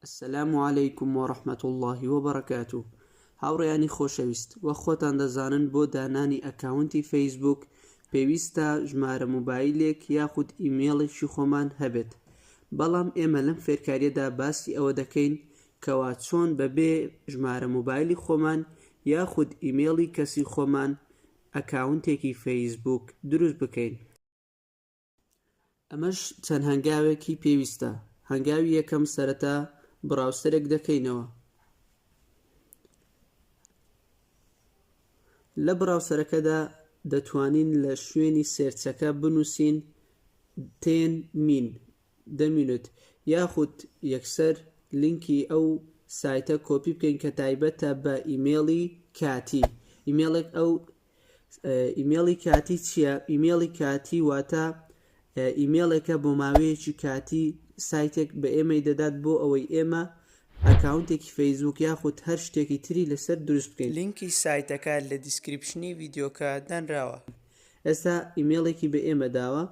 السلام علیکم و رحمت اللە و برکاته هاوڕیانی خۆشەویست و خۆتان دەزانن بۆ دانانی ئەکاونتی فەیسبوک پێویستە ژمارە موبایلێک یاخود ئیمێڵێکی خۆمان هەبێت بەڵام ئێمە لەم فێرکاریەدا باسی ئەوە دەکەین کەوا چۆن بەبێ ژمارە موبایلی خۆمان یاخود ئیمێڵی کەسی خۆمان ئەکاونتێکی فەیسبوک دروست بکەین ئەمەش چەند هەنگاوێکی پێویستە هەنگاوی یەکەم سەرەتا بڕاوسەرێک دەکەینەوە لە بڕاوسەرەکەدا دەتوانین لە شوێنی سێرچەکە بنووسین تێن مین دەمینوت یاخود یەکسەر لینکی ئەو سایتە کۆپی بکەین کە تایبەتە بە ئیمێڵی کاتی ئیمێڵێک ئەو ئیمێڵی کاتی چییە؟ ئیمێڵی کاتی واتە ئیمێڵێکە بۆ ماوەیەکی کاتی سایتێک بە ئێمەی دەدات بۆ ئەوەی ئێمە ئەکاونتێکی فەیسبوک یاخود هەر شتێکی تری لەسەر دروست بکەین. لینکی سایتەکە لە دیسکریپشنی ڤیدیۆکە دانراوە. ئێستا ئیمێڵێکی بە ئێمە داوە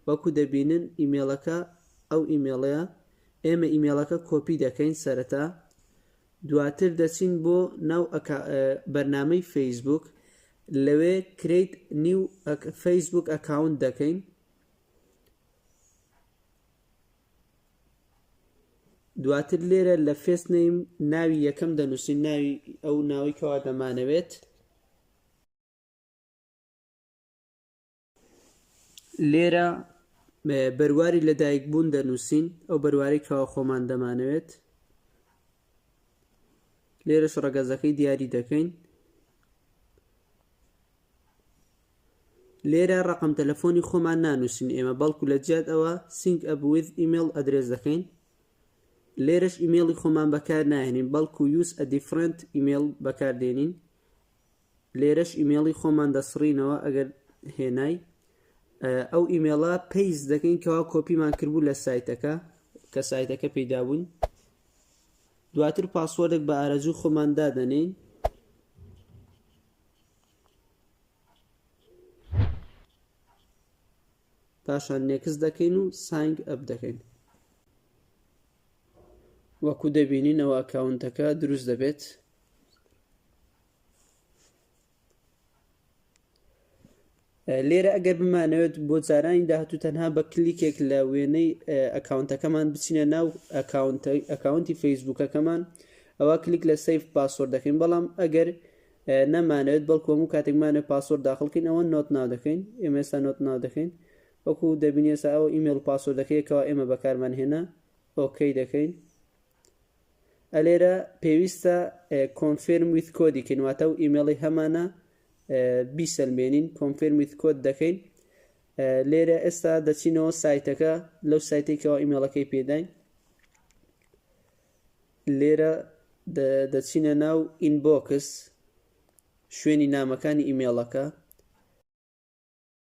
وەکو دەبینن ئیمێڵەکە ئەو ئیمێڵەیە ئێمە ئیمێڵەکە کۆپی دەکەین سەرەتا دواتر دەچین بۆ ناو بەرنامەی فەیسبووک لەوێ کرێیت نیو فەیسبووک ئەکاونت دەکەین دواتر لێرە لە فێست نیم ناوی یەکەم دەنووسین ناوی ئەو ناوی کەوا دەمانەوێت لێرە بەرواری لەدایکبوون دەنووسین ئەو بەروارەی کەوا خۆمان دەمانەوێت لێرەش ڕەگەزەکەی دیاری دەکەین لێرە ڕقم تەلەفۆنی خۆمان نانووسین ئێمە بەڵکو لە جیات ئەوە سینگ ئەبوویت ئیمێل ئەدرێس دەکەین لێرەش ئیمێڵی خۆمان بەکار ناهێنین بەڵکو یوس ئە دیفرنت ئیمێل بەکاردێنین لێرەش ئیمێڵی خۆمان دەسڕینەوە ئەگەر هێنای ئەو ئیمێڵە پێیز دەکەین کەوا کۆپیمان کردبوو لە سایتەکە کە سایتەکە پێدابوون دواتر پاسوەردێک بە ئارەجوو خۆمان دادەنین پاشان نێکس دەکەین و سنگ ئەپ دەکەین وەکو دەبینینەوە ئەکاونتەکە دروست دەبێت لێرە ئەگەر بمانەوێت بۆ جارانی داهاتوو تەنها بە کلیکێک لە وێنەی ئەکاونتەکەمان بچینە ناو ئەکاونتی فەیسبوکەکەمان ئەوە کلیک لە سیف پاسۆر دەکەین بەڵام ئەگەر نەمانەوێت بەڵکۆم و کاتێکمانە پاسۆر داخڵکەین ئەوە نۆت ناو دەکەین ئێمێستا نۆت ناو دەکەین وەکو دەبینێسا ئەو ئیمێل پاسۆر دەکەیەکەوە ئێمە بەکارمان هێنا ئۆکەی دەکەین ئەلێرە پێویستە کۆنفێرم ویت کۆدی کەین واتە و ئیمێڵی هەمانە بیسەلمێنین کۆنفێرم ویت کۆد دەکەین لێرە ئێستا دەچینەوە سایتەکە لەو سایتێکەوە ئیمێڵەکەی پێداین لێرە دەچینە ناو ئینبۆکس شوێنی نامەکانی ئیمێڵەکە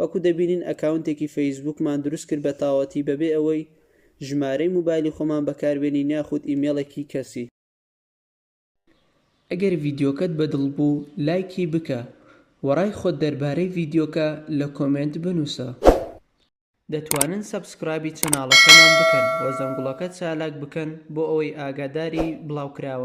وەکو دەبینین ئەکاونتێکی فەیسبووکمان دروست کرد بە تاوەتی بەبێ ئەوەی ژمارەی موبایلی خۆمان بەکار بێنین یاخود ئیمێڵێکی کەسی. ئەگەر ڤیدیۆکەت بە دڵ بوو لایکی بکە وە ڕای خۆت دەربارەی ڤیدیۆکە لە کۆمێنت بنووسە. دەتوانن سەبسکرایبی چەناڵەکەمان بکەن وە زەنگوڵەکە چالاک بکەن بۆ ئەوەی ئاگاداری بڵاوکراوەکان بن.